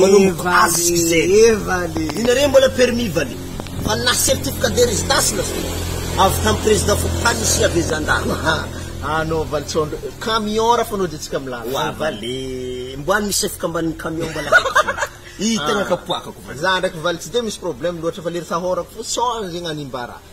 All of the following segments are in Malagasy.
Manomboka ask izay. Inareo mbola permis vale. Fa na certificat de residence na zao. Avy tam président fokontany ny siha be zandary. Anaovany tsôndro eo. Camion ra fanaojantsika am lalana. Wa vale. Mbo any misy fikambanin'ny camion mbola haiko tsony. Ii tegna kapoakako. Za ndraiky vale tsy de misy problème loatra fa lery sahorako fô sao zegny animbara.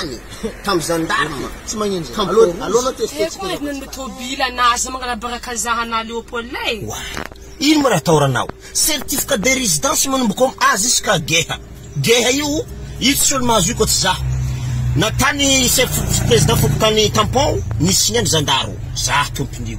any tam gendarme tsy magnino zay allo allo anao test test koa zao ny tobila na aza magnarabaraka zaha na leopold e wah ino mo raha atao ranao certificat de residence manomboka am a jusqu'à geha geha io io tsisy olo mahazo io koa tsy zaho na tany chef president fokontany tampon nisy ny any zandaro zaho tompon'io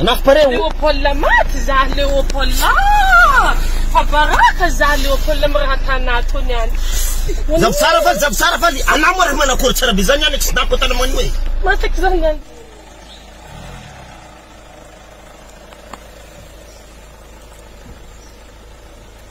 Anafo pare o. Leopold maty za Leopold ah! Fa baraka za Leopold miratana ato niany. Zafy tsara faly zafy tsara faly anah moa raha manakory tsara be zany any accident ko tana manio e. Matak za niany.